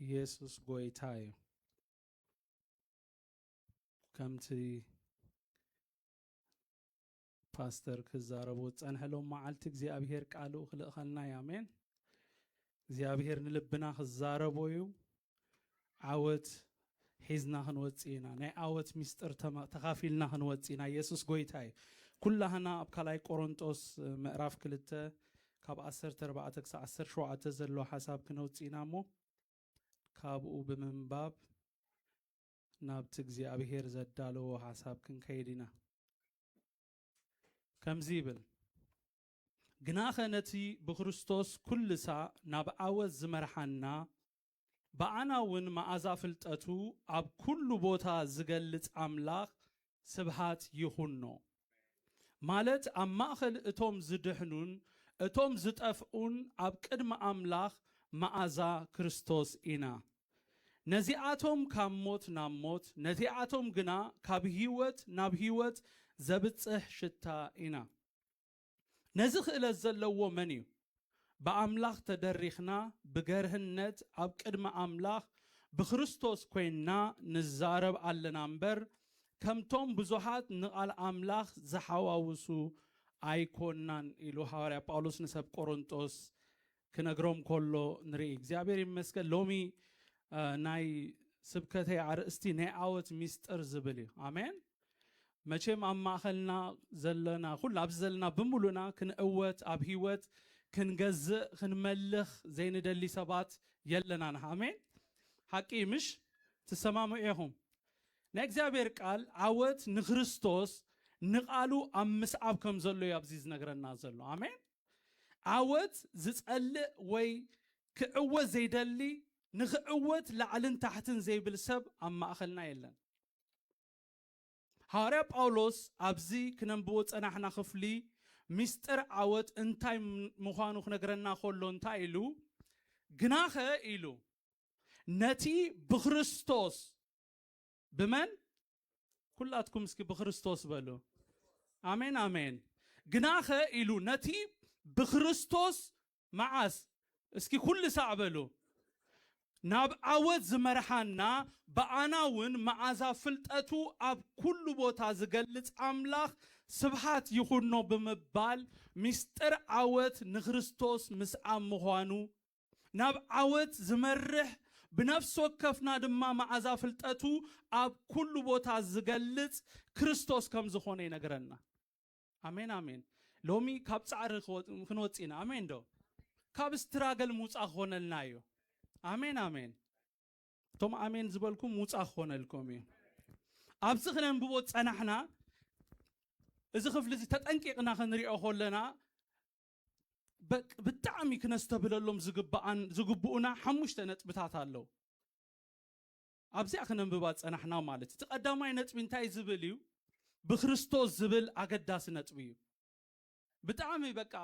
ኢየሱስ ጎይታ እዩ ከምቲ ፓስተር ክዛረቡ ዝፀንሐ ሎም መዓልቲ እግዚኣብሄር ቃሉ ክልእኸልና እዩ ኣሜን እግዚኣብሄር ንልብና ክዛረቦ እዩ ዓወት ሒዝና ክንወጽእ ኢና ናይ ኣወት ሚስጥር ተካፊልና ክንወጽእ ኢና የሱስ ጎይታ እዩ ኩላህና ኣብ ካልኣይ ቆሮንጦስ ምዕራፍ ክልተ ካብ ዓሰርተ ኣርባዕተ ክሳብ ዓሰርተ ሸውዓተ ዘሎ ሓሳብ ክነውጽእ ኢና እሞ ካብኡ ብምንባብ ናብቲ እግዚኣብሄር ዘዳለዎ ሓሳብ ክንከይድ ኢና ከምዚ ይብል ግናኸ ነቲ ብክርስቶስ ኩልሳ ናብ ዓወት ዝመርሓና ብኣናውን መኣዛ ፍልጠቱ ኣብ ኩሉ ቦታ ዝገልጽ ኣምላኽ ስብሃት ይኹኖ ማለት ኣብ ማእኸል እቶም ዝድሕኑን እቶም ዝጠፍኡን ኣብ ቅድሚ ኣምላኽ መኣዛ ክርስቶስ ኢና ነዚኣቶም ካብ ሞት ናብ ሞት ነቲኣቶም ግና ካብ ህይወት ናብ ህይወት ዘብጽሕ ሽታ ኢና። ነዚ ክእለት ዘለዎ መን እዩ? ብኣምላኽ ተደሪኽና ብገርህነት ኣብ ቅድሚ ኣምላኽ ብክርስቶስ ኮይንና ንዛረብ ኣለና እምበር ከምቶም ብዙሓት ንቓል ኣምላኽ ዝሓዋውሱ ኣይኮናን ኢሉ ሃዋርያ ጳውሎስ ንሰብ ቆሮንጦስ ክነግሮም ከሎ ንርኢ እግዚኣብሔር ይመስገን ሎሚ ናይ ስብከተይ ኣርእስቲ ናይ ዓወት ሚስጥር ዝብል እዩ ኣሜን መቼም ኣብ ማእኸልና ዘለና ኩሉ ኣብዚ ዘለና ብምሉእና ክንእወት ኣብ ህይወት ክንገዝእ ክንመልኽ ዘይንደሊ ሰባት የለናን ኣሜን ሓቂ ምሽ ትሰማምዑ ኢኹም ናይ እግዚኣብሔር ቃል ዓወት ንክርስቶስ ንቓሉ ኣብ ምስዓብ ከም ዘሎ እዩ ኣብዚ ዝነግረና ዘሎ ኣሜን ዓወት ዝጸልእ ወይ ክዕወት ዘይደሊ ንኽዕወት ላዕልን ታሕትን ዘይብል ሰብ ኣብ ማእኸልና የለን። ሃዋርያ ጳውሎስ ኣብዚ ክነንብቦ ዝጸናሕና ክፍሊ ምስጢር ዓወት እንታይ ምዃኑ ክነግረና ከሎ እንታይ ኢሉ ግናኸ ኢሉ ነቲ ብክርስቶስ ብመን ኩላትኩም እስኪ ብክርስቶስ በሉ ኣሜን ኣሜን ግናኸ ኢሉ ነቲ ብክርስቶስ መዓስ እስኪ ኩሉ ሳዕ በሉ ናብ ዓወት ዝመርሓና ብኣና እውን መዓዛ ፍልጠቱ ኣብ ኩሉ ቦታ ዝገልጽ ኣምላኽ ስብሓት ይኹኖ ብምባል ምስጢር ዓወት ንክርስቶስ ምስዓም ምዃኑ ናብ ዓወት ዝመርሕ ብነፍሲ ወከፍና ድማ መዓዛ ፍልጠቱ ኣብ ኩሉ ቦታ ዝገልጽ ክርስቶስ ከም ዝኾነ ይነግረና። ኣሜን ኣሜን። ሎሚ ካብ ጻዕሪ ክንወጽእ ኢና። ኣሜን ዶ? ካብ ስትራገል ምውጻእ ክኾነልና እዩ። ኣሜን ኣሜን። እቶም ኣሜን ዝበልኩም ምውጻእ ክኾነልኩም እዩ። ኣብዚ ክነንብቦ ጸናሕና እዚ ክፍሊ እዚ ተጠንቂቕና ክንሪኦ ከለና በቅ ብጣዕሚ ክነስተብለሎም ዝግብኣን ዝግብኡና ሓሙሽተ ነጥብታት ኣለው ኣብዚኣ ክነንብባ ፀናሕና ማለት እዩ እቲ ቀዳማይ ነጥቢ እንታይ ዝብል እዩ ብክርስቶስ ዝብል ኣገዳሲ ነጥቢ እዩ ብጣዕሚ በቃ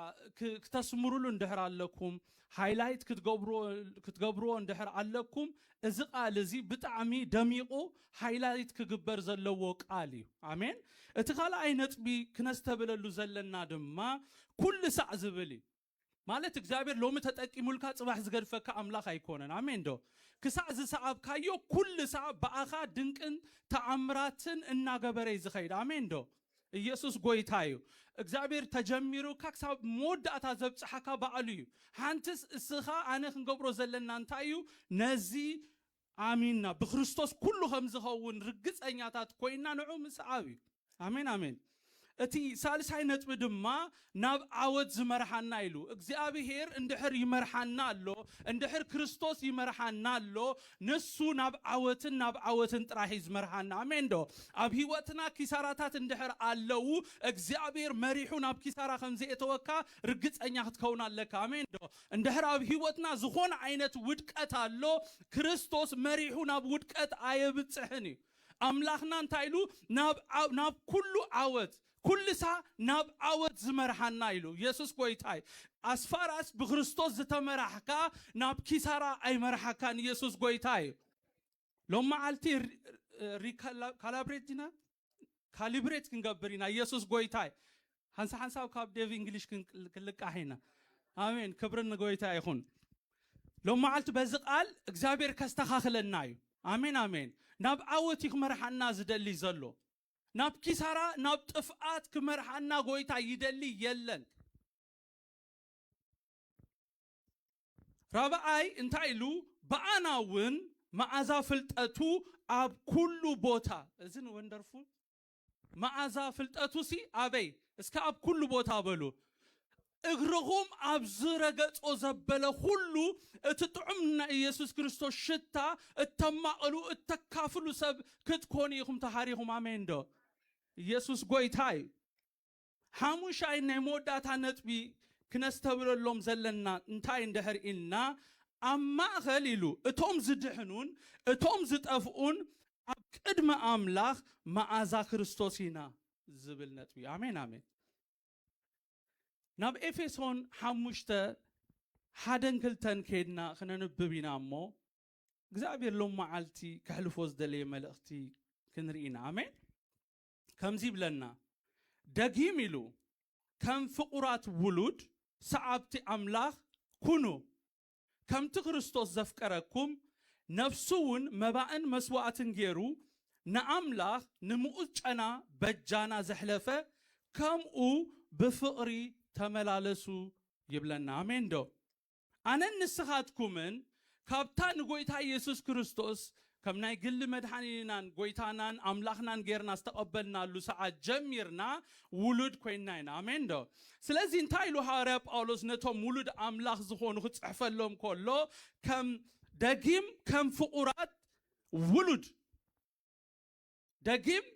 ክተስምሩሉ እንድሕር ኣለኩም ሃይላይት ክትገብርዎ ክትገብርዎ እንድሕር ኣለኩም እዚ ቃል እዚ ብጣዕሚ ደሚቁ ሃይላይት ክግበር ዘለዎ ቃል እዩ ኣሜን እቲ ካልኣይ ነጥቢ ክነስተብለሉ ዘለና ድማ ኩሉ ሳዕ ዝብል እዩ ማለት እግዚኣብሔር ሎሚ ተጠቂሙልካ ጽባሕ ዝገድፈካ ኣምላኽ ኣይኮነን ኣሜን ዶ ክሳዕ ዝሰዓብካዮ ኩሉ ሳዕ ብኣኻ ድንቅን ተኣምራትን እናገበረ እዩ ዝኸይድ ኣሜን ዶ እየሱስ ጎይታ እዩ እግዚኣብሔር ተጀሚሩካ ክሳብ መወዳእታ ዘብጽሓካ በኣሉ እዩ ሓንትስ እስኻ ኣነ ክንገብሮ ዘለና እንታይ እዩ ነዚ ኣሚንና ብክርስቶስ ኩሉ ከም ዝኸውን ርግጸኛታት ኮይና ንዑ ምስዓብ እዩ ኣሜን ኣሜን እቲ ሳልሳይ ነጥቢ ድማ ናብ ዓወት ዝመርሓና ኢሉ እግዚኣብሄር እንድሕር ይመርሓና ኣሎ እንድሕር ክርስቶስ ይመርሓና ኣሎ ንሱ ናብ ዓወትን ናብ ዓወትን ጥራሕ እዩ ዝመርሓና ኣሜን ዶ ኣብ ሂወትና ኪሳራታት እንድሕር ኣለው እግዚኣብሄር መሪሑ ናብ ኪሳራ ከም ዘየእተወካ ርግጸኛ ክትከውን ኣለካ ኣሜን ዶ እንድሕር ኣብ ሂወትና ዝኾነ ዓይነት ውድቀት ኣሎ ክርስቶስ መሪሑ ናብ ውድቀት ኣየብጽሕን እዩ ኣምላኽና እንታይ ኢሉ ናብ ናብ ኩሉ ዓወት ኩልሳ ናብ ዓወት ዝመርሓና ኢሉ የሱስ ጎይታ እዩ ኣስፋራስ ብክርስቶስ ዝተመራሕካ ናብ ኪሳራ ኣይመርሓካን የሱስ ጎይታ እዩ ሎም መዓልቲ ሪካላብሬት ዲና ካሊብሬት ክንገብር ኢና የሱስ ጎይታ እዩ ሓንሳ ሓንሳብ ካብ ዴቭ እንግሊሽ ክንልቃሕ ኢና ኣሜን ክብርን ንጎይታ ይኹን ሎም መዓልቲ በዚ ቃል እግዚኣብሔር ከስተኻኽለና እዩ ኣሜን ኣሜን ናብ ዓወት እዩ ክመርሓና ዝደሊ ዘሎ ናብ ኪሳራ ናብ ጥፍኣት ክመርሓና ጎይታ ይደሊ የለን። ራብዓይ እንታይ ኢሉ ብኣና ውን መኣዛ ፍልጠቱ ኣብ ኩሉ ቦታ እዚ ን ወንደርፉል መኣዛ ፍልጠቱሲ ኣበይ እስከ ኣብ ኩሉ ቦታ በሉ እግርኹም ኣብ ዝረገጾ ዘበለ ዅሉ፣ እቲ ጥዑም ንናይ ኢየሱስ ክርስቶስ ሽታ እተማቕሉ፣ እተካፍሉ ሰብ ክትኮኑ ኢኹም ተሃሪኹም። ኣሜንዶ? ኢየሱስ ጐይታ እዩ። ሓሙሻይ ናይ መወዳእታ ነጥቢ ክነስተብለሎም ዘለና እንታይ እንድሕር ኢልና፣ ኣብ ማእከል ኢሉ እቶም ዝድሕኑን እቶም ዝጠፍኡን ኣብ ቅድሚ ኣምላኽ መኣዛ ክርስቶስ ኢና ዝብል ነጥቢ እዩ። ኣሜን ኣሜን። ናብ ኤፌሶን ሓሙሽተ ሓደን ክልተን ከይድና ክነንብብ ኢና እሞ እግዚኣብሔር ሎም መዓልቲ ከሕልፎ ዝደለየ መልእኽቲ ክንርኢ ኢና ኣሜን ከምዚ ይብለና ደጊም ኢሉ ከም ፍቑራት ውሉድ ሰዓብቲ ኣምላኽ ኩኑ ከምቲ ክርስቶስ ዘፍቀረኩም፣ ነፍሱውን መባእን መስዋእትን ገይሩ ንኣምላኽ ንምኡዝ ጨና በጃና ዘሕለፈ፣ ከምኡ ብፍቕሪ ተመላለሱ ይብለና። ኣሜንዶ? ኣነን ንስኻትኩምን ካብታ ንጐይታ ኢየሱስ ክርስቶስ ከም ናይ ግሊ መድሓኒናን ጎይታናን ኣምላኽናን ጌርና ዝተቐበልናሉ ሰዓት ጀሚርና ውሉድ ኮይንና ኢና። ኣሜን ዶ? ስለዚ እንታይ ኢሉ ሃዋርያ ጳውሎስ ነቶም ውሉድ ኣምላኽ ዝኾኑ ክጽሕፈሎም ከሎ ከም ደጊም ከም ፍቑራት ውሉድ ደጊም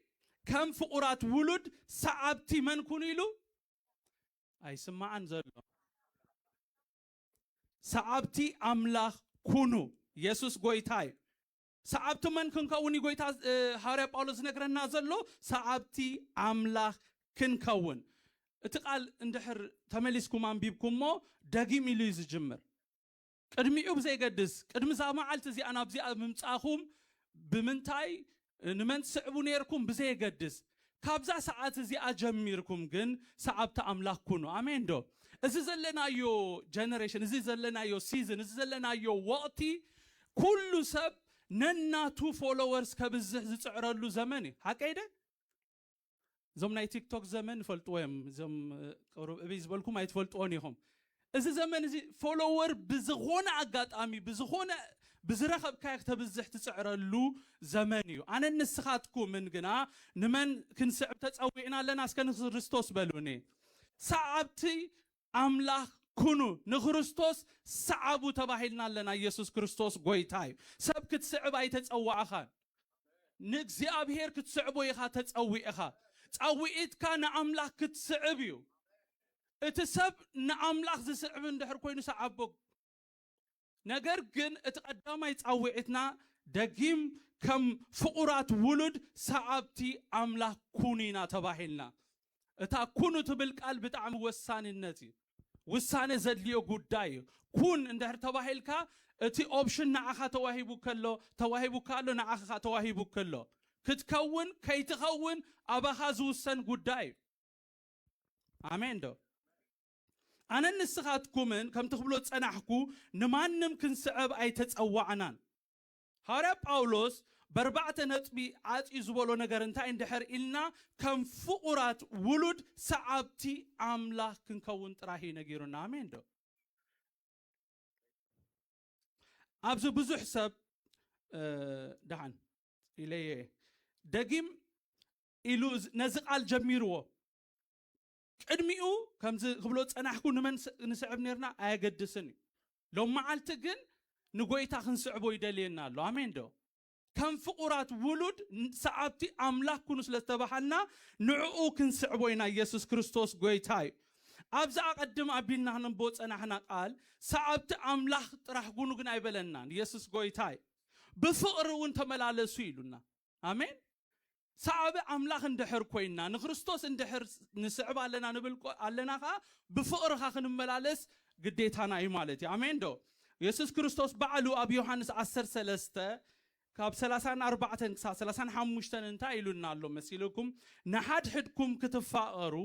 ከም ፍቑራት ውሉድ ሰዓብቲ መን ኩኑ ኢሉ? ኣይስማዕን ዘሎ። ሰዓብቲ ኣምላኽ ኩኑ። የሱስ ጎይታ እዩ። ሰዓብቲ መን ክንከውን እዩ ጎይታ ሃዋርያ ጳውሎስ ዝነግረና ዘሎ? ሰዓብቲ ኣምላኽ ክንከውን። እቲ ቃል እንድሕር ተመሊስኩም ኣንቢብኩሞ ደጊም ኢሉ እዩ ዝጅምር። ቅድሚኡ ብዘይገድስ ቅድሚ እዛ መዓልቲ እዚኣ ናብዚኣ ምምጻእኹም ብምንታይ ንመን ትስዕቡ ኔርኩም ብዘየገድስ ካብዛ ሰዓት እዚኣ ጀሚርኩም ግን ሰዓብቲ ኣምላኽ ኩኑ። ኣሜን ዶ? እዚ ዘለናዮ ጀነሬሽን፣ እዚ ዘለናዮ ሲዝን፣ እዚ ዘለናዮ ወቕቲ ኩሉ ሰብ ነናቱ ፎሎወርስ ከብዝሕ ዝጽዕረሉ ዘመን እዩ። ሓቀይ ደ? እዞም ናይ ቲክቶክ ዘመን ይፈልጥዎ እዮም እዞም ቅሩብ እብይ ዝበልኩም ኣይትፈልጥዎን ኢኹም እዚ ዘመን እዚ ፎሎወር ብዝኾነ ኣጋጣሚ ብዝኾነ ብዝረኸብካዮ ክተብዝሕ ትፅዕረሉ ዘመን እዩ ኣነ ንስኻትኩምን ግና ንመን ክንስዕብ ተፀዊዕና ኣለና እስከ ንክርስቶስ በሉኒ ሰዓብቲ ኣምላኽ ኩኑ ንክርስቶስ ስዓቡ ተባሂልና ኣለና ኢየሱስ ክርስቶስ ጎይታ እዩ ሰብ ክትስዕብ ኣይተጸዋዕኻን ንእግዚኣብሔር ክትስዕቦ ኢኻ ተጸዊዕኻ ጻዊዒትካ ንኣምላኽ ክትስዕብ እዩ እቲ ሰብ ንኣምላኽ ዝስዕብ እንድሕር ኮይኑ ስዓቦ ነገር ግን እቲ ቀዳማይ ጻውዒትና ደጊም ከም ፍቑራት ውሉድ ሰዓብቲ ኣምላኽ ኩኑ ኢና ተባሂልና። እታ ኩኑ ትብል ቃል ብጣዕሚ ወሳንነት እዩ። ውሳነ ዘድልዮ ጉዳይ እዩ። ኩን እንድሕር ተባሂልካ እቲ ኦፕሽን ንዓኻ ተዋሂቡካ ኣሎ፣ ተዋሂቡካ ኣሎ፣ ንዓኻ ተዋሂቡካ ኣሎ። ክትከውን ከይትኸውን ኣባኻ ዝውሰን ጉዳይ እዩ። ኣሜን ዶ? ኣነን ንስኻትኩምን ከምቲ ክብሎ ዝጸናሕኩ ንማንም ክንስዕብ ኣይተጸዋዕናን። ሃዋርያ ጳውሎስ በርባዕተ ነጥቢ ዓጽዩ ዝበሎ ነገር እንታይ እንድሕር ኢልና ከም ፍቑራት ውሉድ ሰዓብቲ ኣምላኽ ክንከውን ጥራሕ እዩ ነጊሩና። ኣሜን ዶ? ኣብዚ ብዙሕ ሰብ ደሓን ኢለየ ደጊም ኢሉ ነዚ ቃል ጀሚርዎ ቅድሚኡ ከምዚ ክብሎ ዝጸናሕኩ ንመን ንስዕብ ኔርና ኣየገድስን እዩ። ሎምዓልቲ ግን ንጎይታ ክንስዕቦ ይደልየና ኣሎ። ኣሜን ዶ? ከም ፍቑራት ውሉድ ሰዓብቲ ኣምላኽ ኩኑ ስለ ዝተባሃልና ንዕኡ ክንስዕቦ ኢና ኢየሱስ ክርስቶስ ጎይታ እዩ። ኣብዛ ኣቐድም ኣቢልና ክነንብቦ ዝጸናሕና ቃል ሰዓብቲ ኣምላኽ ጥራሕ ኩኑ ግን ኣይበለናን ኢየሱስ ጎይታ እዩ። ብፍቕሪ እውን ተመላለሱ ኢሉና። ኣሜን ሰዓቢ ኣምላኽ እንድሕር ኮይንና ንክርስቶስ እንድሕር ንስዕብ ኣለና ንብል ኣለና ከኣ ብፍቕርኻ ክንመላለስ ግዴታና እዩ ማለት እዩ ኣሜን ዶ የሱስ ክርስቶስ ባዕሉ ኣብ ዮሃንስ ዓሰርተ ሰለስተ ካብ ሰላሳን ኣርባዕተን ክሳብ ሰላሳን ሓሙሽተን እንታይ ኢሉና ኣሎ መሲልኩም ንሓድሕድኩም ክትፋቐሩ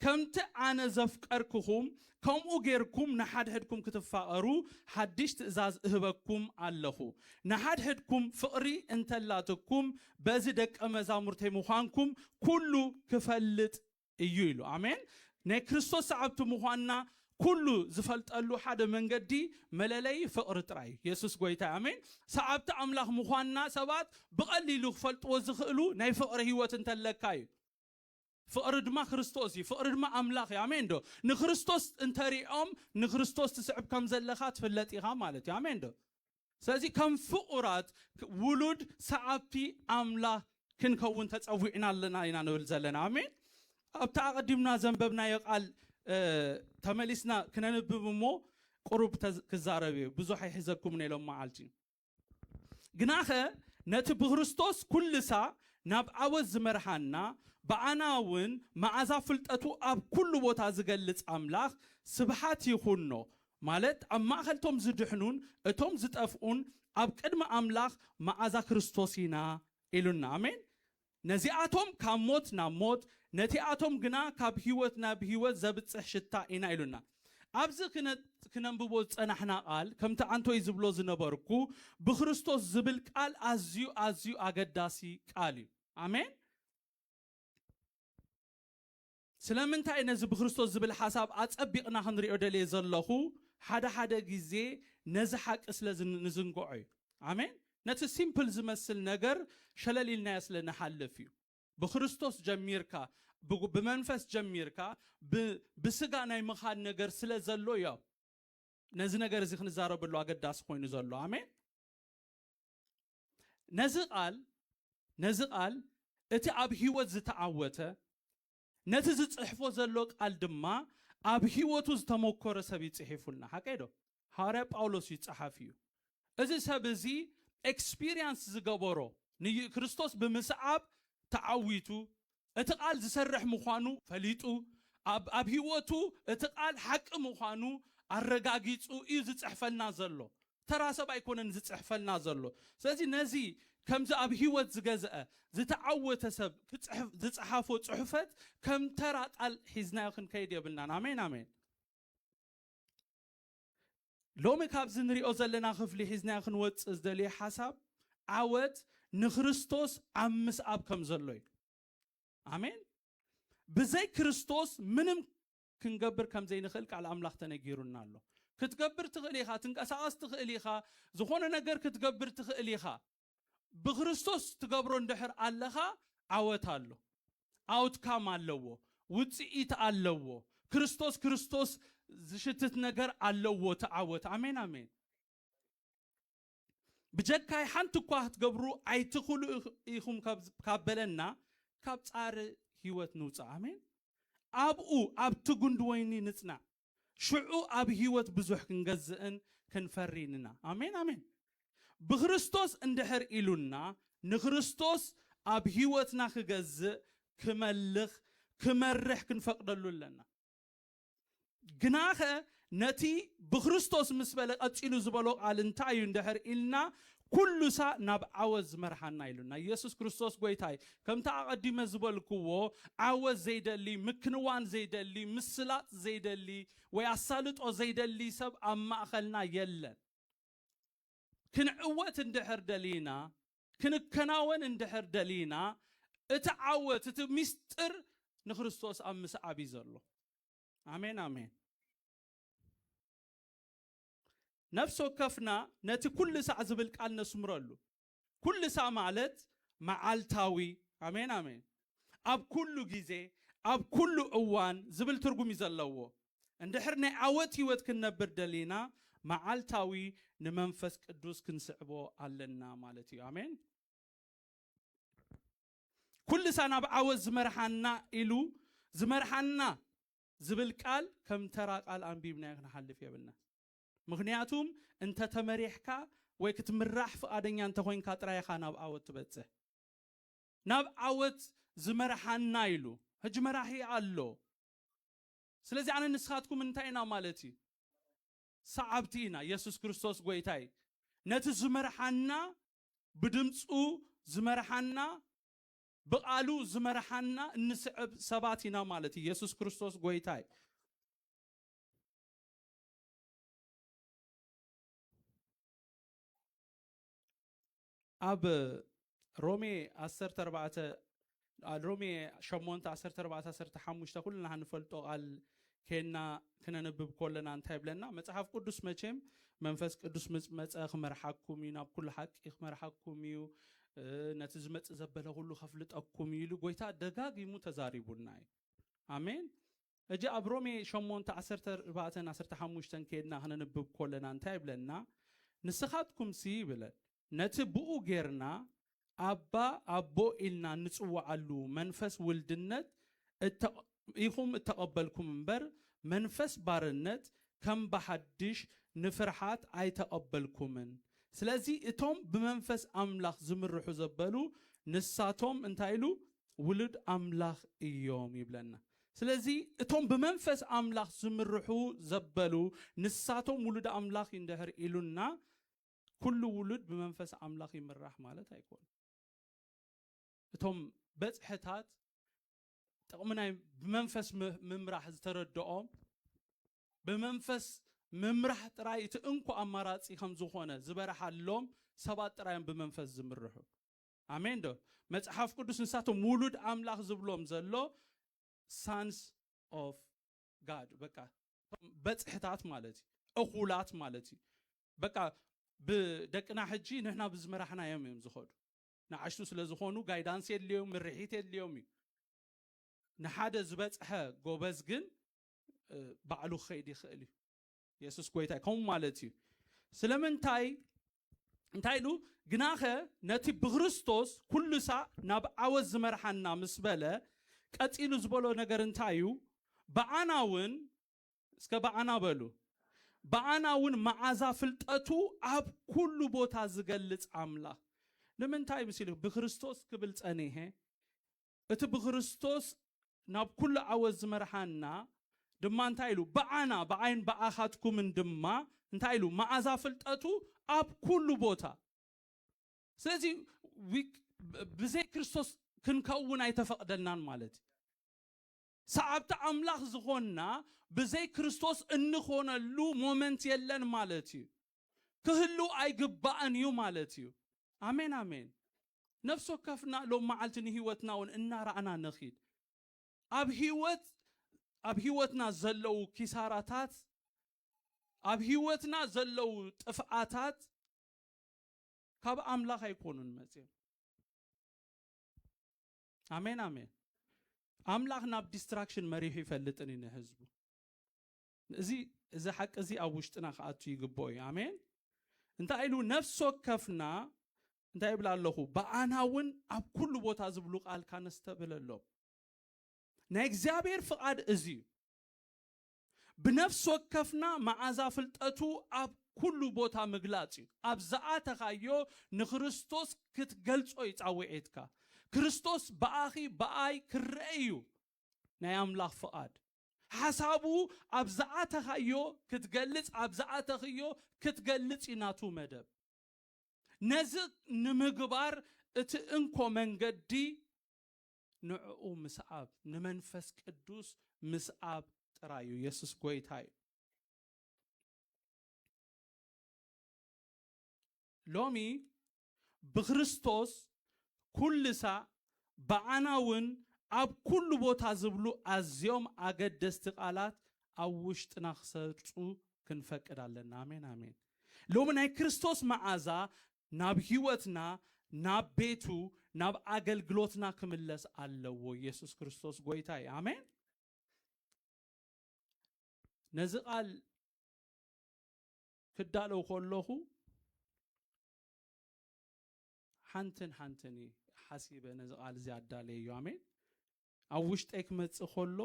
ከምቲ ኣነ ዘፍቀርክኹም፣ ከምኡ ጌርኩም ንሓድሕድኩም ክትፋቐሩ ሓድሽ ትእዛዝ እህበኩም ኣለኹ። ንሓድሕድኩም ፍቕሪ እንተላትኩም፣ በዚ ደቀ መዛሙርተይ ምዃንኩም ኩሉ ክፈልጥ እዩ ኢሉ። ኣሜን! ናይ ክርስቶስ ሰዓብቲ ምዃንና ኩሉ ዝፈልጠሉ ሓደ መንገዲ፣ መለለዪ ፍቕሪ ጥራይ እዩ። የሱስ ጎይታ እዩ። ኣሜን! ሰዓብቲ ኣምላኽ ምዃንና ሰባት ብቐሊሉ ክፈልጥዎ ዝኽእሉ ናይ ፍቕሪ ህይወት እንተለካ እዩ። ፍቕሪ ድማ ክርስቶስ እዩ፣ ፍቕሪ ድማ ኣምላኽ እዩ። ኣሜን ዶ? ንክርስቶስ እንተ ሪኦም ንክርስቶስ ትስዕብ ከም ዘለኻ ትፍለጥ ኢኻ ማለት እዩ። ኣሜን ዶ? ስለዚ ከም ፍቑራት ውሉድ ሰዓብቲ ኣምላኽ ክንከውን ተጸዊዕና ኣለና ኢና ንብል ዘለና። ኣሜን። ኣብቲ ኣቐዲምና ዘንበብናዮ ቃል ተመሊስና ክነንብብ እሞ ቁሩብ ክዛረብ እየ፣ ብዙሕ ኣይሕዘኩምን እየ ሎም መዓልቲ። ግናኸ ነቲ ብክርስቶስ ኩልሳ ናብ ዓወት ዝመርሓና ብኣና እውን መኣዛ ፍልጠቱ ኣብ ኩሉ ቦታ ዝገልጽ ኣምላኽ ስብሓት ይኹኖ ማለት ኣብ ማእከል እቶም ዝድሕኑን እቶም ዝጠፍኡን ኣብ ቅድሚ ኣምላኽ መኣዛ ክርስቶስ ኢና ኢሉና ኣሜን ነዚኣቶም ካብ ሞት ናብ ሞት፣ ነቲኣቶም ግና ካብ ህይወት ናብ ህይወት ዘብጽሕ ሽታ ኢና ኢሉና። ኣብዚ ክነንብቦ ዝጸናሕና ቃል ከምቲ ኣንቶይ ዝብሎ ዝነበርኩ ብክርስቶስ ዝብል ቃል ኣዝዩ ኣዝዩ ኣገዳሲ ቃል እዩ። ኣሜን። ስለምንታይ ነዚ ብክርስቶስ ዝብል ሓሳብ ኣጸቢቕና ክንሪኦ ደልየ ዘለኹ፣ ሓደ ሓደ ግዜ ነዚ ሓቂ ስለ ንዝንግዖ እዩ። ኣሜን። ነቲ ሲምፕል ዝመስል ነገር ሸለል ኢልናዮ ስለ ንሓልፍ እዩ። ብክርስቶስ ጀሚርካ፣ ብመንፈስ ጀሚርካ፣ ብስጋ ናይ ምኻድ ነገር ስለ ዘሎ እዩ ነዚ ነገር እዚ ክንዛረበሉ ኣገዳሲ ኮይኑ ዘሎ። ኣሜን። ነዚ ቓል ነዚ ቓል እቲ ኣብ ህይወት ዝተዓወተ ነቲ ዝጽሕፎ ዘሎ ቃል ድማ ኣብ ህይወቱ ዝተመኮረ ሰብ እዩ ጽሒፉልና ሓቀይ ዶ ሃዋርያ ጳውሎስ እዩ ጸሓፊ እዩ እዚ ሰብ እዚ ኤክስፒሪያንስ ዝገበሮ ንይ ክርስቶስ ብምስዓብ ተዓዊቱ እቲ ቃል ዝሰርሕ ምዃኑ ፈሊጡ ኣብ ኣብ ሂወቱ እቲ ቃል ሓቂ ምዃኑ ኣረጋጊጹ እዩ ዝጽሕፈልና ዘሎ ተራ ሰብ ኣይኮነን ዝጽሕፈልና ዘሎ ስለዚ ነዚ ከምዚ ኣብ ሂወት ዝገዘአ ዝተዓወተ ሰብ ክጽሕፍ ዝጽሓፎ ጽሑፈት ከም ተራ ቃል ሒዝናዮ ክንከይድ የብልናን ኣሜን ኣሜን። ሎሚ ካብዚ ንሪኦ ዘለና ክፍሊ ሒዝናዮ ክንወጽእ ዝደልዮ ሓሳብ ዓወት ንክርስቶስ ኣብ ምስኣብ ከም ዘሎ እዩ። ኣሜን። ብዘይ ክርስቶስ ምንም ክንገብር ከም ዘይንኽእል ቃል ኣምላኽ ተነጊሩና ኣሎ። ክትገብር ትኽእል ኢኻ፣ ትንቀሳቐስ ትኽእል ኢኻ፣ ዝኾነ ነገር ክትገብር ትኽእል ኢኻ። ብክርስቶስ ትገብሮ እንድሕር ኣለኻ ዓወት ኣሎ ኣውትካም ኣለዎ ውጽኢት ኣለዎ ክርስቶስ ክርስቶስ ዝሽትት ነገር ኣለዎ እቲ ዓወት ኣሜን ኣሜን ብጀካይ ሓንቲ እኳ ክትገብሩ ኣይትኽሉ ኢኹም ካብ በለና ካብ ጻሪ ህይወት ንውፃእ ኣሜን ኣብኡ ኣብቲ ጉንዲ ወይኒ ንጽናዕ ሽዑ ኣብ ህይወት ብዙሕ ክንገዝእን ክንፈሪን እና። ኣሜን ኣሜን። ብክርስቶስ እንድሕር ኢሉና ንክርስቶስ ኣብ ህይወትና ክገዝእ፣ ክመልኽ፣ ክመርሕ ክንፈቅደሉ ኣለና። ግናኸ ነቲ ብክርስቶስ ምስ በለ ቀጺሉ ዝበሎ ቃል እንታይ እዩ እንድሕር ኢልና ኩሉሳ ናብ ዓወት ዝመርሓና ኢሉና ኢየሱስ ክርስቶስ ጎይታ እዩ። ከምቲ ኣቐዲመ ዝበልክዎ ዓወት ዘይደሊ፣ ምክንዋን ዘይደሊ፣ ምስላጥ ዘይደሊ ወይ ኣሳልጦ ዘይደሊ ሰብ ኣብ ማእኸልና የለን። ክንዕወት እንድሕር ደሊና፣ ክንከናወን እንድሕር ደሊና እቲ ዓወት እቲ ሚስጥር ንክርስቶስ ኣብ ምስዓብ እዩ ዘሎ። ኣሜን ኣሜን። ነፍሲ ወከፍና ነቲ ኩልሳዕ ዝብል ቃል ነስምረሉ። ኩልሳዕ ማለት መዓልታዊ፣ ኣሜን ኣሜን፣ ኣብ ኩሉ ግዜ፣ ኣብ ኩሉ እዋን ዝብል ትርጉም እዩ ዘለዎ። እንድሕር ናይ ዓወት ህይወት ክንነብር ደሊና መዓልታዊ ንመንፈስ ቅዱስ ክንስዕቦ ኣለና ማለት እዩ። ኣሜን። ኩልሳ ናብ ዓወት ዝመርሓና ኢሉ ዝመርሓና ዝብል ቃል ከም ተራ ቃል ኣንቢብናዮ ክንሓልፍ የብልናን። ምኽንያቱም እንተ ተመሪሕካ ወይ ክትምራሕ ፍቓደኛ እንተ ኾይንካ ጥራይ ኢኻ ናብ ዓወት ትበጽሕ። ናብ ዓወት ዝመርሓና ኢሉ ሕጂ መራሒ ኣሎ። ስለዚ ኣነን ንስኻትኩም እንታይ ኢና ማለት እዩ? ሰዓብቲ ኢና። የሱስ ክርስቶስ ጎይታ እዩ። ነቲ ዝመርሓና ብድምጹ ዝመርሓና ብቃሉ ዝመርሓና እንስዕብ ሰባት ኢና ማለት እዩ የሱስ ክርስቶስ ጎይታ እዩ። ኣብ ሮሜ ዓሰርተ ኣርባዕተ ሮሜ ሸሞንተ ዓሰርተ ኣርባዕተ ዓሰርተ ሓሙሽተ ኩልና ንፈልጦ ቃል ኴንና ክነንብብ ኮለና እንታይ ይብለና መጽሓፍ ቅዱስ መቼም መንፈስ ቅዱስ ምስ መጸ ክመርሓኩም እዩ ናብ ኩሉ ሓቂ ክመርሓኩም እዩ ነቲ ዝመጽእ ዘበለ ኩሉ ከፍልጠኩም እዩ ኢሉ ጎይታ ደጋጊሙ ተዛሪቡና እዩ ኣሜን እጂ ኣብ ሮሜ 8 14 15 ኬድና ክነንብብ ኮለና እንታይ ይብለና ንስኻትኩምሲ ይብለን ነቲ ብኡ ጌርና ኣባ፣ ኣቦ፣ ኢልና እንጽውዓሉ መንፈስ ውልድነት ኢኹም እተቐበልኩም እምበር፣ መንፈስ ባርነት ከም ብሓድሽ ንፍርሓት ኣይተቐበልኩምን። ስለዚ እቶም ብመንፈስ ኣምላኽ ዝምርሑ ዘበሉ ንሳቶም እንታይ ኢሉ ውሉድ ኣምላኽ እዮም ይብለና። ስለዚ እቶም ብመንፈስ ኣምላኽ ዝምርሑ ዘበሉ ንሳቶም ውሉድ ኣምላኽ እንድሕር ኢሉና ኩሉ ውሉድ ብመንፈስ ኣምላኽ ይምራሕ ማለት ኣይኮነን። እቶም በጽሕታት ጥቕሚ ናይ ብመንፈስ ምምራሕ ዝተረድኦም ብመንፈስ ምምራሕ ጥራይ እቲ እንኮ ኣማራጺ ከም ዝኾነ ዝበረሓሎም ሰባት ጥራዮም ብመንፈስ ዝምርሑ። ኣሜን ዶ? መጽሓፍ ቅዱስ ንሳቶም ውሉድ ኣምላኽ ዝብሎም ዘሎ ሳንስ ኦፍ ጋድ በቃ በጽሕታት ማለት እዩ፣ እኹላት ማለት እዩ። በቃ ብደቅና ሕጂ ንሕና ብዝመራሕናዮም እዮም ዝኸዱ ንኣሽቱ ስለ ዝኾኑ ጋይዳንስ የድልዮም ምርሒት የድልዮም እዩ ንሓደ ዝበጽሐ ጎበዝ ግን ባዕሉ ክኸይድ ይኽእል እዩ የሱስ ጎይታ ከምኡ ማለት እዩ ስለምንታይ እንታይ ኢሉ ግናኸ ነቲ ብክርስቶስ ኩሉ ሳዕ ናብ ዓወት ዝመርሓና ምስ በለ ቀጺሉ ዝበሎ ነገር እንታይ እዩ ብኣና እውን እስከ ብኣና በሉ። ብኣና እውን መዓዛ ፍልጠቱ ኣብ ኩሉ ቦታ ዝገልጽ ኣምላኽ ንምንታይ ምሲሉ ብክርስቶስ ክብል ጸኒሔ። እቲ ብክርስቶስ ናብ ኩሉ ዓወት ዝመርሓና ድማ እንታይ ኢሉ ብኣና ብኣይን ብኣኻትኩምን ድማ እንታይ ኢሉ መዓዛ ፍልጠቱ ኣብ ኩሉ ቦታ ስለዚ ብዘይ ክርስቶስ ክንከውን ኣይተፈቕደልናን ማለት እዩ። ሰዓብቲ ኣምላኽ ዝኾንና ብዘይ ክርስቶስ እንኾነሉ ሞመንት የለን ማለት እዩ። ክህሉ ኣይግባእን እዩ ማለት እዩ። ኣሜን ኣሜን ነፍሲ ወከፍና ሎም መዓልቲ ንህይወትና ውን እናረኣና ንኺድ። ኣብ ህይወት ኣብ ህይወትና ዘለዉ ኪሳራታት ኣብ ህይወትና ዘለዉ ጥፍኣታት ካብ ኣምላኽ ኣይኮኑን መጺኦም። ኣሜን ኣሜን ኣምላኽ ናብ ዲስትራክሽን መሪሑ ይፈልጥን እዩ ንህዝቡ እዚ እዚ ሓቂ እዚ ኣብ ውሽጥና ክኣቱ ይግብኦ እዩ ኣሜን እንታይ ኢሉ ነፍሲ ወከፍና እንታይ ይብላ ኣለኹ ብኣና እውን ኣብ ኩሉ ቦታ ዝብሉ ቃል ካነስተብህለሎም ናይ እግዚኣብሔር ፍቓድ እዚ እዩ ብነፍሲ ወከፍና መዓዛ ፍልጠቱ ኣብ ኩሉ ቦታ ምግላጽ እዩ። ኣብ ዝኣተኻዮ ንክርስቶስ ክትገልጾ እዩ ጻውዒትካ። ክርስቶስ ብኣኺ ብኣይ ክረኣ እዩ ናይ ኣምላኽ ፍቓድ። ሓሳቡ ኣብ ዝኣተኻዮ ክትገልጽ ኣብ ዝኣተኽዮ ክትገልጽ እዩ ናቱ መደብ። ነዚ ንምግባር እቲ እንኮ መንገዲ ንዕኡ ምስዓብ ንመንፈስ ቅዱስ ምስዓብ ጥራይ እዩ የሱስ ጎይታ እዩ ሎሚ ብክርስቶስ ኩልሳ ብዓና እውን ኣብ ኩሉ ቦታ ዝብሉ ኣዝዮም ኣገደስቲ ቃላት ኣብ ውሽጥና ክሰርፁ ክንፈቅድ ኣለና ኣሜን ኣሜን ሎሚ ናይ ክርስቶስ መዓዛ ናብ ሕይወትና ናብ ቤቱ ናብ ኣገልግሎትና ክምለስ ኣለዎ ኢየሱስ ክርስቶስ ጎይታ እዩ ኣሜን ነዚ ቃል ክዳለው ከለኹ ሓንትን ሓንትን እዩ ሓሲበ ነዚ ቃል እዚ ኣዳለየ እዩ ኣሜን ኣብ ውሽጠይ ክመጽእ ከሎ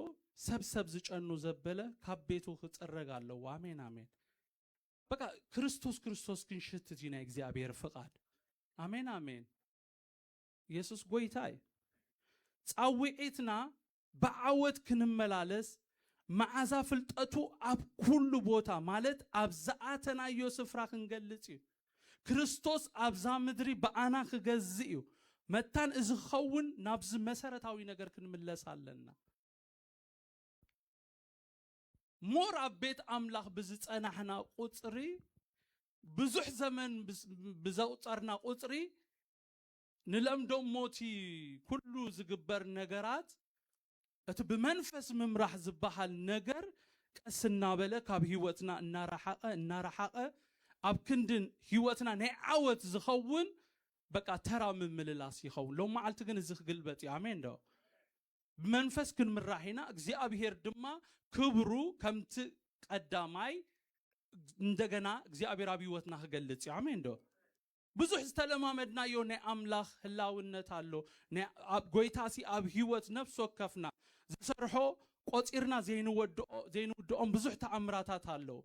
ሰብ ሰብ ዝጨኑ ዘበለ ካብ ቤቱ ክጽረግ ኣለዎ ኣሜን ኣሜን በቃ ክርስቶስ ክርስቶስ ክንሽት እዚ ናይ እግዚኣብሔር ፍቃድ ኣሜን ኣሜን ኢየሱስ ጎይታ እዩ ጻውዒትና ብዓወት ክንመላለስ መዓዛ ፍልጠቱ ኣብ ኩሉ ቦታ ማለት ኣብ ዝኣተናዮ ስፍራ ክንገልጽ እዩ ክርስቶስ ኣብዛ ምድሪ ብኣና ክገዝእ እዩ መታን እዚ ክኸውን ናብዚ መሰረታዊ ነገር ክንምለስ ኣለና more ኣብ ቤት ኣምላኽ ብዝጸናሕና ቁጽሪ ብዙሕ ዘመን ብዘቁጸርና ቁጽሪ ንለምዶ ሞቲ ኩሉ ዝግበር ነገራት እቲ ብመንፈስ ምምራሕ ዝበሃል ነገር ቀስ እናበለ ካብ ህይወትና እናረሓቐ እናረሓቐ ኣብ ክንዲ ህይወትና ናይ ዓወት ዝኸውን በቃ ተራ ምምልላስ ይኸውን። ሎም መዓልቲ ግን እዚ ክግልበጥ እዩ። ኣሜን ዶ? ብመንፈስ ክንምራሕ ኢና፣ እግዚኣብሄር ድማ ክብሩ ከምቲ ቀዳማይ እንደገና እግዚኣብሄር ኣብ ህይወትና ክገልጽ እዩ። ኣሜን ዶ? ብዙሕ ዝተለማመድናዮ ናይ ኣምላኽ ህላውነት ኣሎ። ኣብ ጎይታሲ ኣብ ህይወት ነፍሲ ወከፍና ዝሰርሖ ቆጺርና ዘይንወድኦ ዘይንውድኦም ብዙሕ ተኣምራታት ኣለዉ።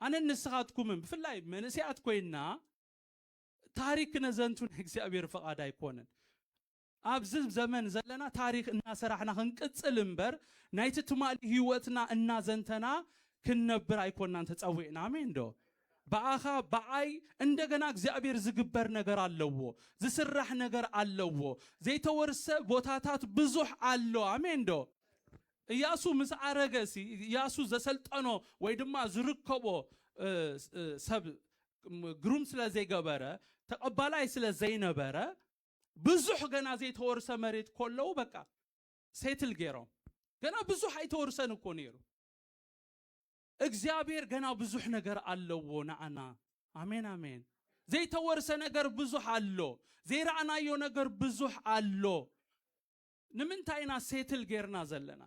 ኣነን ንስኻትኩምን ብፍላይ መንእሰያት ኮይንና ታሪክ ክነዘንቱ ናይ እግዚኣብሄር ፍቓድ ኣይኮነን። ኣብዚ ዘመን ዘለና ታሪኽ እናሰራሕና ክንቅጽል እምበር ናይቲ ትማሊ ህይወትና እናዘንተና ክንነብር ኣይኮናን ተጸዊዕና። ኣሜንዶ? ብኣኻ ብዓይ እንደገና እግዚኣብሔር ዝግበር ነገር ኣለዎ። ዝስራሕ ነገር ኣለዎ። ዘይተወርሰ ቦታታት ብዙሕ ኣሎ። ኣሜንዶ? እያሱ ምስ ኣረገ ሲ እያሱ ዘሰልጠኖ ወይ ድማ ዝርከቦ ሰብ ግሩም ስለ ዘይገበረ ተቐባላይ ስለ ዘይነበረ ብዙሕ ገና ዘይተወርሰ መሬት ኮለዉ በቃ ሴትል ገይሮም ገና ብዙሕ ኣይተወርሰን እኮ ነይሩ እግዚኣብሔር ገና ብዙሕ ነገር ኣለዎ ንኣና ኣሜን ኣሜን ዘይተወርሰ ነገር ብዙሕ ኣሎ ዘይረኣናዮ ነገር ብዙሕ ኣሎ ንምንታይ ኢና ሴትል ጌርና ዘለና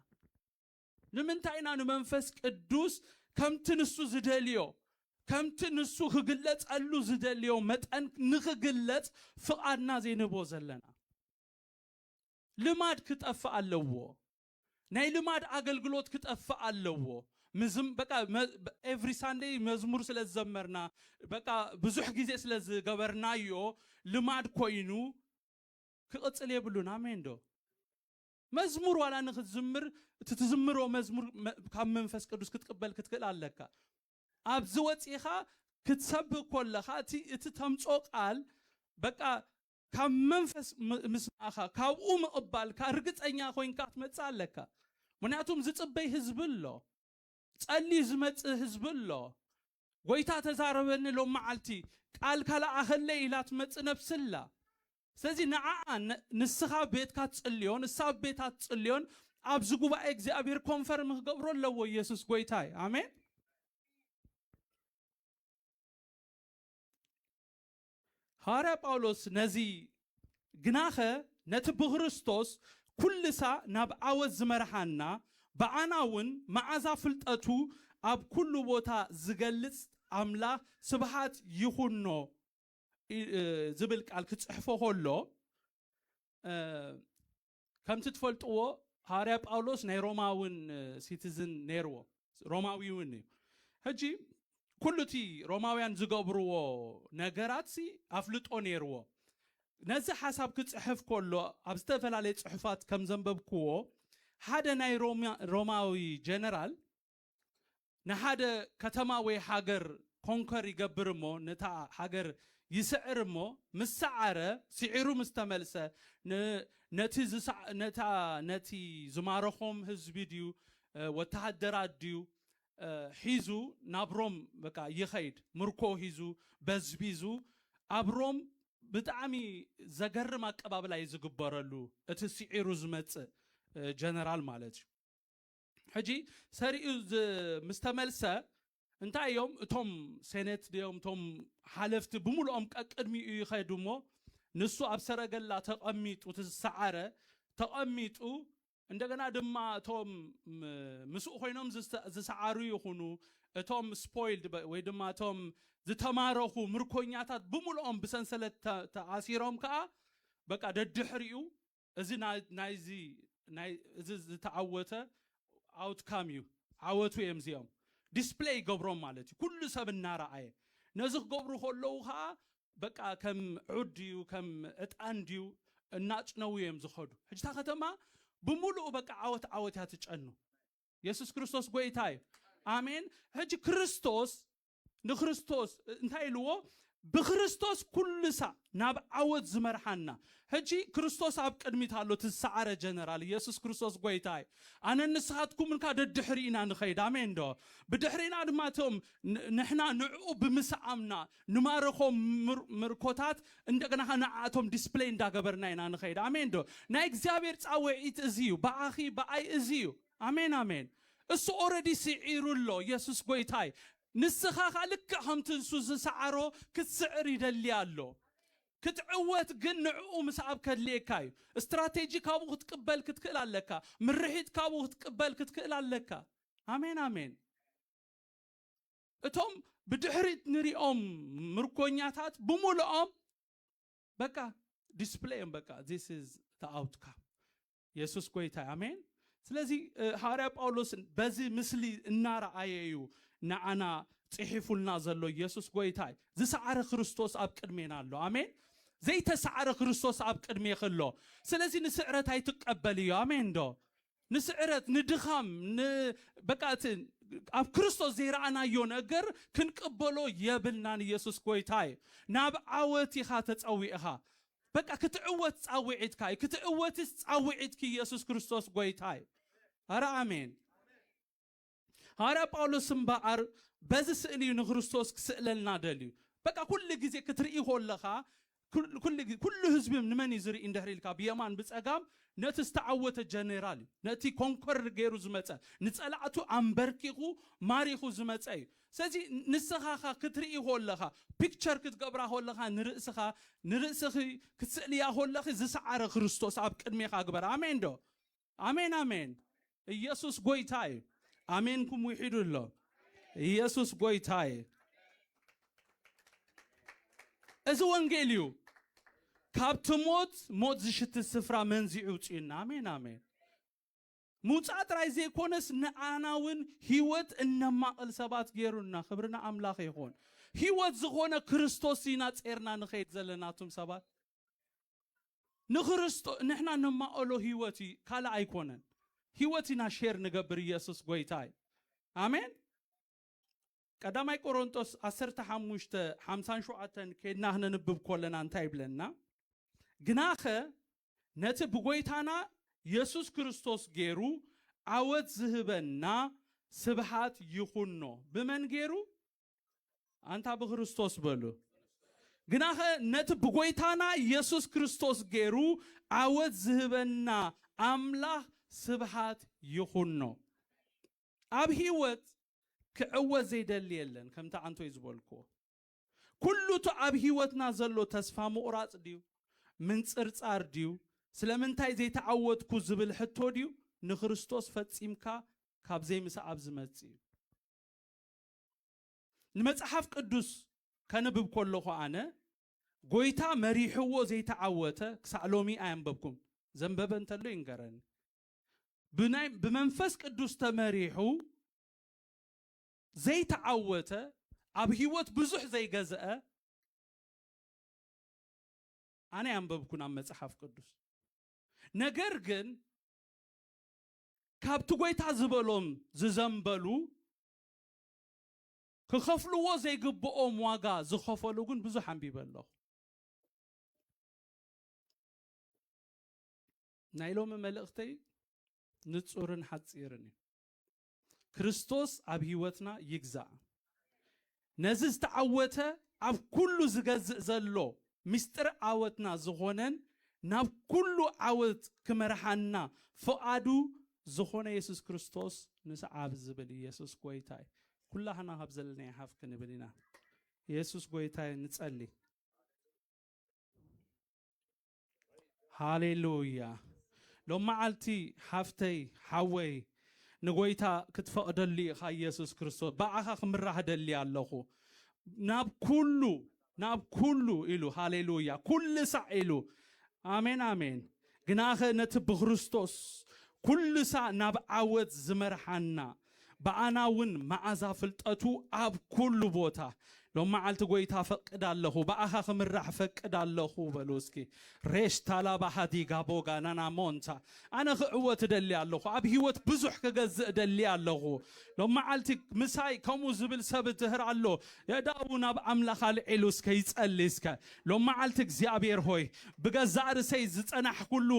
ንምንታይ ኢና ንመንፈስ ቅዱስ ከምቲ ንሱ ዝደልዮ፣ ከምቲ ንሱ ክግለጸሉ ዝደልዮ መጠን ንኽግለጽ ፍቓድና ዘይንህቦ ዘለና? ልማድ ክጠፍእ ኣለዎ። ናይ ልማድ ኣገልግሎት ክጠፍእ ኣለዎ። ምዝም በቃ መ ኤቭሪ ሳንደይ መዝሙር ስለ ዝዘመርና በቃ ብዙሕ ግዜ ስለ ዝገበርናዮ ልማድ ኮይኑ ክቕጽል የብሉን። ኣሜን ዶ? መዝሙር ዋላ ንክትዝምር እቲ ትዝምሮ መዝሙር ካብ መንፈስ ቅዱስ ክትቅበል ክትክእል ኣለካ ኣብዚ ወፂኢኻ ክትሰብክ ኮለኻ እቲ እቲ ተምፆ ቃል በቃ ካብ መንፈስ ምስማእኻ ካብኡ ምቕባልካ ርግፀኛ ኮይንካ ክትመፅእ ኣለካ ምክንያቱም ዝፅበይ ህዝቢ ኣሎ ፀልዩ ዝመፅእ ህዝቢ ኣሎ ጎይታ ተዛረበኒ ሎም መዓልቲ ቃልካ ለኣኸለይ ኢላ ትመፅእ ነብሲ ኣላ ስለዚ ንዓኣ ንስኻ ኣብ ቤትካ ትጽልዮ ንሳ ኣብ ቤታ ትጽልዮን ኣብዚ ጉባኤ እግዚኣብሔር ኮንፈርም ክገብሮ ኣለዎ ኢየሱስ ጎይታ እዩ ኣሜን ሃዋርያ ጳውሎስ ነዚ ግናኸ ነቲ ብክርስቶስ ኩልሳ ናብ ዓወት ዝመርሓና ብኣና እውን መዓዛ ፍልጠቱ ኣብ ኩሉ ቦታ ዝገልጽ ኣምላኽ ስብሓት ይኹኖ ዝብል ቃል ክጽሕፎ ከሎ ከምቲ ትፈልጥዎ ሃዋርያ ጳውሎስ ናይ ሮማውን ሲቲዝን ነይርዎ ሮማዊ እውን እዩ ሕጂ ኩሉ እቲ ሮማውያን ዝገብርዎ ነገራት ሲ ኣፍልጦ ነይርዎ ነዚ ሓሳብ ክጽሕፍ ከሎ ኣብ ዝተፈላለየ ጽሑፋት ከም ዘንበብክዎ ሓደ ናይ ሮማዊ ጀነራል ንሓደ ከተማ ወይ ሃገር ኮንከር ይገብር እሞ ነታ ሃገር ይስዕር እሞ ምስ ሰዓረ ሲዒሩ ምስ ተመልሰ ነቲ ነታ ነቲ ዝማረኾም ህዝቢ ድዩ ወተሃደራት ድዩ ሒዙ ናብ ሮም በቃ ይኸይድ ምርኮ ሂዙ በዝቢዙ ኣብ ሮም ብጣዕሚ ዘገርም ኣቀባብላ እዩ ዝግበረሉ እቲ ሲዒሩ ዝመጽእ ጀነራል ማለት እዩ ሕጂ ሰሪኡ ምስ ተመልሰ እንታይ እዮም እቶም ሴኔት ድዮም እቶም ሓለፍቲ ብምሉኦም ቀቅድሚኡ ይኸዱ እሞ ንሱ ኣብ ሰረገላ ተቐሚጡ እቲ ዝሰዓረ ተቐሚጡ እንደገና ድማ እቶም ምስኡ ኮይኖም ዝሰዓሩ ይኹኑ እቶም ስፖይልድ ወይ ድማ እቶም ዝተማረኹ ምርኮኛታት ብምሉኦም ብሰንሰለት ተኣሲሮም ከዓ በቃ ደድሕሪኡ እዚ ናይዚ ናይ እዚ ዝተዓወተ ኣውትካም እዩ ዓወቱ እዮም እዚኦም ዲስፕለይ ይገብሮም ማለት እዩ ኩሉ ሰብ እናረኣየ ነዚ ክገብሩ ከለዉ ከዓ በቃ ከም ዑድ ድዩ ከም ዕጣን ድዩ እናጭነዉ እዮም ዝኸዱ ሕጂ እታ ከተማ ብምሉኡ በቃ ዓወት ዓወት እያ ትጨኑ የሱስ ክርስቶስ ጎይታ እዩ ኣሜን ሕጂ ክርስቶስ ንክርስቶስ እንታይ ኢልዎ ብክርስቶስ ኩሉሳ ናብ ዓወት ዝመርሓና ሕጂ ክርስቶስ ኣብ ቅድሚት ኣሎ እቲ ዝሰዓረ ጀነራል ኢየሱስ ክርስቶስ ጎይታ እዩ ኣነ ንስኻትኩምን ካ ደድሕሪኢና ንኸይድ ኣሜን ዶ ብድሕሪና ድማ እቶም ንሕና ንዕኡ ብምስዓምና ንማረኾም ምርኮታት እንደገና ኸ ንዓእቶም ዲስፕሌይ እንዳገበርና ኢና ንኸይድ ኣሜን ዶ ናይ እግዚኣብሔር ፃውዒት እዚ እዩ ብኣኺ ብኣይ እዚ እዩ ኣሜን ኣሜን እሱ ኦረዲ ሲዒሩ ኣሎ የሱስ ጎይታይ ንስካ ከኣ ልክዕ ከምቲ ንሱ ዝሰዓሮ ክትስዕር ይደሊ ኣሎ ክትዕወት ግን ንዕኡ ምስዓብ ከድልየካ እዩ እስትራቴጂ ካብኡ ክትቅበል ክትክእል ኣለካ ምርሒት ካብኡ ክትቅበል ክትክእል ኣለካ ኣሜን ኣሜን እቶም ብድሕሪት ንሪኦም ምርኮኛታት ብምልኦም በቃ ዲስፕሌይ እዮም በቃ ዚስ ኢዝ ዘ ኣውትካም የሱስ ጎይታ እዩ ኣሜን ስለዚ ሃዋርያ ጳውሎስ በዚ ምስሊ እናረኣየ እዩ ንዓና ጽሒፉልና ዘሎ የሱስ ጎይታ እዩ ዝሰዓረ ክርስቶስ ኣብ ቅድሜና ኣሎ ኣሜን ዘይተሰዓረ ክርስቶስ ኣብ ቅድሜኺ ኣሎ ስለዚ ንስዕረት ኣይትቀበል እዩ ኣሜን ዶ ንስዕረት ንድኻም በቃ እቲ ኣብ ክርስቶስ ዘይረኣናዮ ነገር ክንቅበሎ የብልናን ኢየሱስ ጎይታ እዩ ናብ ዓወት ኢኻ ተጸዊዕኻ በቃ ክትዕወት ጻዊዒትካ እዩ ክትዕወትስ ጻዊዒትኪ ኢየሱስ ክርስቶስ ጎይታ እዩ ኣረ ኣሜን ሃዋርያ ጳውሎስ እምበኣር በዚ ስእሊ እዩ ንክርስቶስ ክስእለልና ደልዩ በቃ ኩሉ ግዜ ክትርኢ ኮለኻ ኩሉ ህዝቢ ንመን እዩ ዝርኢ እንድሕሪ ኢልካ ብየማን ብጸጋም ነቲ ዝተዓወተ ጀኔራል እዩ ነቲ ኮንኮር ገይሩ ዝመጸ ንጸላዕቱ ኣንበርኪኹ ማሪኹ ዝመጸ እዩ ስለዚ ንስኻ እኻ ክትርኢ ኮለኻ ፒክቸር ክትገብራ ኮለኻ ንርእስኻ ንርእስኺ ክትስእልያ ኮለኺ ዝሰዓረ ክርስቶስ ኣብ ቅድሜኻ ግበር ኣሜን ዶ ኣሜን ኣሜን ኢየሱስ ጎይታ እዩ ኣሜንኩም ውሒዱ ኣሎ ኢየሱስ ጎይታ እዩ እዚ ወንጌል እዩ ካብቲ ሞት ሞት ዝሽቲ ስፍራ መንዚዑ ውፅኡና ኣሜን ኣሜን ምውጻእ ጥራይ ዘይኮነስ ንዓና ውን ሂወት እነማቕል ሰባት ጌሩና ክብሪ ንኣምላኽ ይኹን ሂወት ዝኾነ ክርስቶስ ኢና ጼርና ንኸይድ ዘለና እቱም ሰባት ንክርስቶ ንሕና ነማቕሎ ሂወት እዩ ካልእ ኣይኮነን ሂወት ኢና ሼር ንገብር ኢየሱስ ጎይታ እዩ ኣሜን። ቀዳማይ ቆሮንጦስ ዓሰርተ ሓሙሽተ ሓምሳን ሸውዓተን ኬድና ክነንብብ ኮለና እንታይ ይብለና ግናኸ ነቲ ብጎይታና የሱስ ክርስቶስ ጌሩ ዓወት ዝህበና ስብሓት ይኹኖ ብመን ጌሩ ኣንታ ብክርስቶስ በሉ ግናኸ ነቲ ብጎይታና የሱስ ክርስቶስ ጌሩ ዓወት ዝህበና ኣምላኽ ስብሓት ይኹኖ ኣብ ሂወት ክዕወት ዘይደሊ የለን ከምቲ ኣንቶይ ዝበልክዎ ኩሉ እቲ ኣብ ሂወትና ዘሎ ተስፋ ምቑራጽ ድዩ ምንጽርጻር ድዩ ስለምንታይ ዘይተዓወትኩ ዝብል ሕቶ ድዩ ንክርስቶስ ፈጺምካ ካብ ዘይምስዓብ ዝመጽእ እዩ ንመጽሓፍ ቅዱስ ከንብብ ኮለኹ ኣነ ጎይታ መሪሕዎ ዘይተዓወተ ክሳዕ ሎሚ ኣየንበብኩን ዘንበበ እንተሎ ይንገረኒ ብናይ ብመንፈስ ቅዱስ ተመሪሑ ዘይተዓወተ ኣብ ህይወት ብዙሕ ዘይገዝአ ኣነ ኣንበብኩን ኣብ መጽሓፍ ቅዱስ ነገር ግን ካብቲ ጎይታ ዝበሎም ዝዘንበሉ ክኸፍልዎ ዘይግብኦም ዋጋ ዝኸፈሉ ግን ብዙሕ ኣንቢበ ኣለኹ ናይ ሎሚ መልእኽተይ ንጹርን ሓጺርን እዩ። ክርስቶስ ኣብ ህይወትና ይግዛእ። ነዚ ዝተዓወተ ኣብ ኩሉ ዝገዝእ ዘሎ ምስጢር ዓወትና ዝኾነን ናብ ኩሉ ዓወት ክመርሓና ፍቓዱ ዝኾነ የሱስ ክርስቶስ ንስዓብ ዝብል እዩ። የሱስ ጎይታ እዩ። ኩላህና ካብ ዘለናዮ ሓፍ ክንብል ኢና። የሱስ ጎይታ እዩ። ንጸሊ። ሃሌሉያ ሎማዓልቲ ሓፍተይ ሓወይ ንጎይታ ክትፈቅደሉ ኢካ ኢየሱስ ክርስቶስ ብኣኻ ክምራሕ ደሊ ኣለኹ ናብ ኩሉ ናብ ኩሉ ኢሉ ሃሌሉያ ኩሉ ሳዕ ኢሉ ኣሜን ኣሜን ግናኸ ነቲ ብክርስቶስ ኩሉ ሳዕ ናብ ዓወት ዝመርሓና ብኣና እውን መኣዛ ፍልጠቱ ኣብ ኩሉ ቦታ ሎም መዓልቲ ጎይታ እፈቅድ ኣለኹ ብኣኻ ክምራሕ እፈቅድ ኣለኹ በሉ እስኪ ሬሽ ታላባ ሃዲጋ ቦጋ ናና ሞንታ ኣነ ክዕወት እደሊ ኣለኹ ኣብ ህይወት ብዙሕ ክገዝእ እደሊ ኣለኹ ሎም መዓልቲ ምሳይ ከምኡ ዝብል ሰብ እድህር ኣሎ የዳኡ ናብ ኣምላኽ ኣልዒሉ እስከ ይጸሊ እስከ ሎም መዓልቲ እግዚኣብሔር ሆይ ብገዛእ ርሰይ ዝጸናሕኩሉ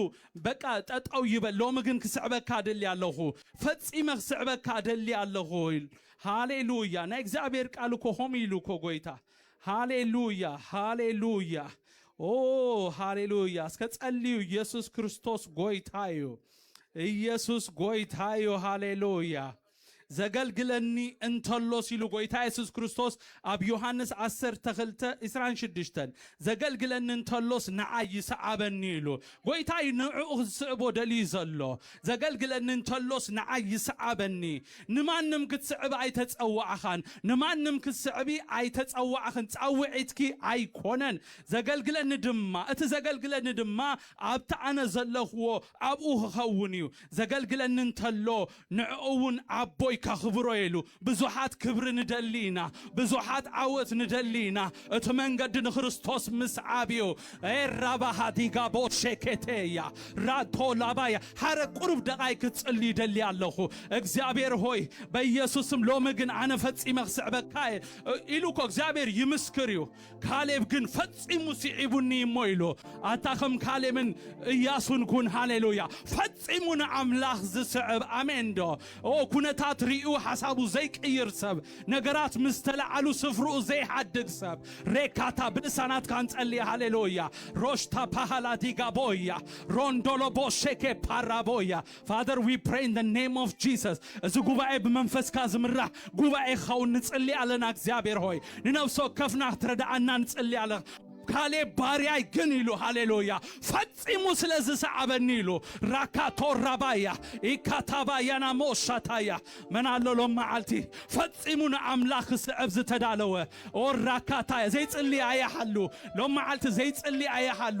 በቃ ጠጠው ይበል ሎሚ ግን ክስዕበካ እደሊ ኣለኹ ፈጺመ ክስዕበካ እደሊ ኣለኹ ኢሉ ሃሌሉያ ናይ እግዚኣብሔር ቃል እኮ ሆም ኢሉ እኮ ጎይታ ሃሌሉያ ሃሌሉያ ኦ ሃሌሉያ እስከ ጸልዩ ኢየሱስ ክርስቶስ ጎይታ እዩ ኢየሱስ ጎይታ እዩ ሃሌሉያ ዘገልግለኒ እንተሎስ ኢሉ ጎይታ የሱስ ክርስቶስ ኣብ ዮሃንስ ዓሰርተ ክልተ ዕስራን ሽዱሽተን ዘገልግለኒ እንተሎስ ንዓይ ይስዓበኒ ኢሉ ጎይታ እዩ ንዕኡ ዝስዕቦ ደልዩ ዘሎ ዘገልግለኒ እንተሎስ ንዓይ ይስዓበኒ ንማንም ክትስዕቢ ኣይተጸዋዕኻን ንማንም ክትስዕቢ ኣይተጸዋዕኽን ጻውዒትኪ ኣይኮነን ዘገልግለኒ ድማ እቲ ዘገልግለኒ ድማ ኣብቲ ኣነ ዘለኽዎ ኣብኡ ኽኸውን እዩ፣ ዘገልግለኒ እንተሎ ንዕኡ እውን ኣቦይ ከኽብሮ እየ ኢሉ። ብዙሓት ክብሪ ንደሊ ኢና፣ ብዙሓት ዓወት ንደሊ ኢና፣ እቲ መንገዲ ንክርስቶስ ምስዓብ እዩ። ኤራባሃ ዲጋ ቦሼኬቴያ ራቶ ላባያ ሓረግ ቁሩብ ደቓይቅ ክትጽሊ ይደሊ ኣለኹ እግዚኣብሔር ሆይ በኢየሱስ ስም ሎሚ ግን ኣነ ፈጺመ ክስዕበካ እየ ኢሉ እኮ እግዚኣብሔር ይምስክር እዩ። ካሌብ ግን ፈጺሙ ስዒቡኒ እሞ ኢሉ ኣታ ከም ካሌብን እያሱን ኩን ሃሌሉያ ፈጺሙ ንኣምላኽ ዝስዕብ ኣሜን ዶ ኦ ኩነታት ርእዩ ሓሳቡ ዘይቅይር ሰብ ነገራት ምስ ተለዓሉ ስፍርኡ ዘይሓድግ ሰብ ሬካታ ብልሳናትካ ንጸልየ ሃሌሉያ ሮሽታ ፓሃላ ዲጋቦያ ሮንዶሎቦ ሼኬ ፓራቦያ Father, we pray in the name of Jesus. እዚ ጉባኤ ብመንፈስካ ዝምራሕ ጉባኤ ክኸውን ንጽሊ ኣለና እግዚኣብሔር ሆይ ንነብሲ ወከፍና ክትረድኣና ንጽሊ ኣለ ካሌብ ባርያይ ግን ኢሉ ሃሌሉያ ፈጺሙ ስለ ዝሰዓበኒ ኢሉ ራካቶ ራባያ ኢካታባያና ሞሻታያ መን ኣሎ ሎም መዓልቲ ፈጺሙ ንኣምላኽ ክስዕብ ዝተዳለወ ኦ ራካታያ ዘይጽሊ ኣያሃሉ ሎም መዓልቲ ዘይጽሊ ኣያሃሉ